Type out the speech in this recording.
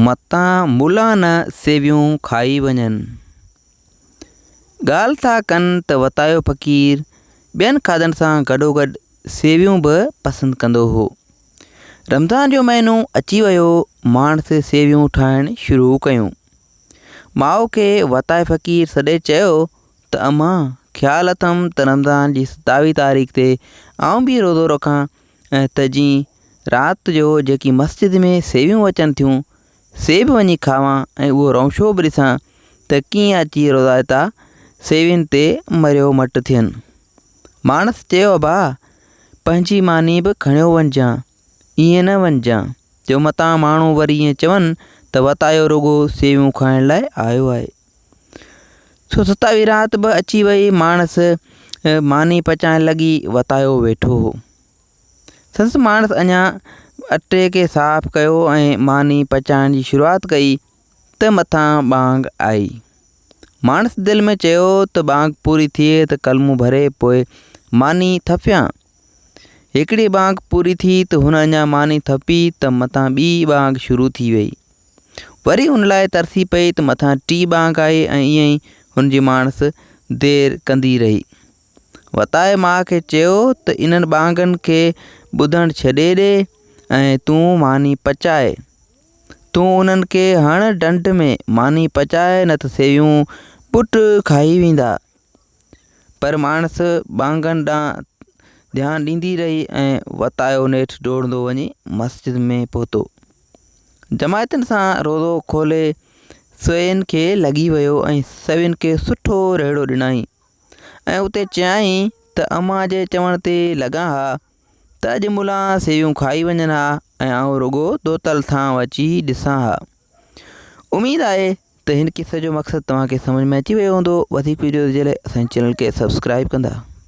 متان ملا نه سيويون کائي وڃن. ڳالهه ٿا ڪن ته وتايو فقير ٻين کاڌن سان گڏوگڏ سيويون به پسند ڪندو هو. رمضان جو مهينو اچي ويو، ماڻس سيويون ٺاهڻ شروع ڪيون. ماء کي وتايو فقير سڏي چيو ته امان! خيال اٿم ته رمضان جي ستاويهه تاريخ تي آئون به روزو رکان ۽ ته جي رات جو جيڪي مسجد ۾ سيويون اچن ٿيون سي به وڃي کاوان ۽ اهو رئونشو به ڏسان ته ڪيئن اچي روضائتا سيوين تي مريو مٽ ٿين. ماڻس چيو ابا! پنهنجي ماني به کڻيو وڃجان، ائين نه وڃجان جو متان ماڻهو وري ائين چون ته وتايو رڳو سيويون کائڻ لاء آيو آهي. سو ستاوي رات به اچي وئي، ماڻس ماني پچائڻ لڳي وتايو ويٺو هو. سندس ماڻس اڃا اٽي کي صاف ڪيو ۽ ماني پچائڻ جي شروعات ڪئي ته مٿان ٻانگ آئي. ماڻس دل ۾ چيو ته ٻانگ پوري ٿئي ته ڪلمون ڀري پوء ماني ٿڦيان. هڪڙي ٻانگ پوري ٿي ته هن اڃا ماني ٿپي ته مٿان ٻي ٻانگ شروع ٿي وئي وري ان لاء ترسي پئي ته مٿان ٽي ٻانگ آئي ۽ ائين ئي هن جي ماڻس دير ڪندي رهي وتائي ماء کي چيو ته انهن ٻانگن کي ٻڌڻ ڇڏي ڏي ۽ تون ماني پچائي تون انهن کي هڻ ڊنڊ ۾ ماني پچائي نه ته سيويون پٽ کائي ويندا پر ماڻس ٻانگن ڏانهن ڌيان ڏيندي رهي ۽ وتايو نيٺ ڊوڙندو وڃي مسجد ۾ پهتو جماعتن سان روزو کولي سوين کي لڳي ويو ۽ سوين کي سٺو رهڙو ڏنائين ۽ اتي چيائين ته اما جي چوڻ تي لڳان ها ته اڄ ملان سيويون کائي وڃن ها ۽ آئون رڳو دوتل ٿان اچي ڏسان ها اميد آهي ته هن قصي جو مقصد توهان کي سمجهه ۾ اچي ويو هوندو وڌيڪ وڊيوز جي لاء اسان جي چينل کي سبسڪرائب ڪندا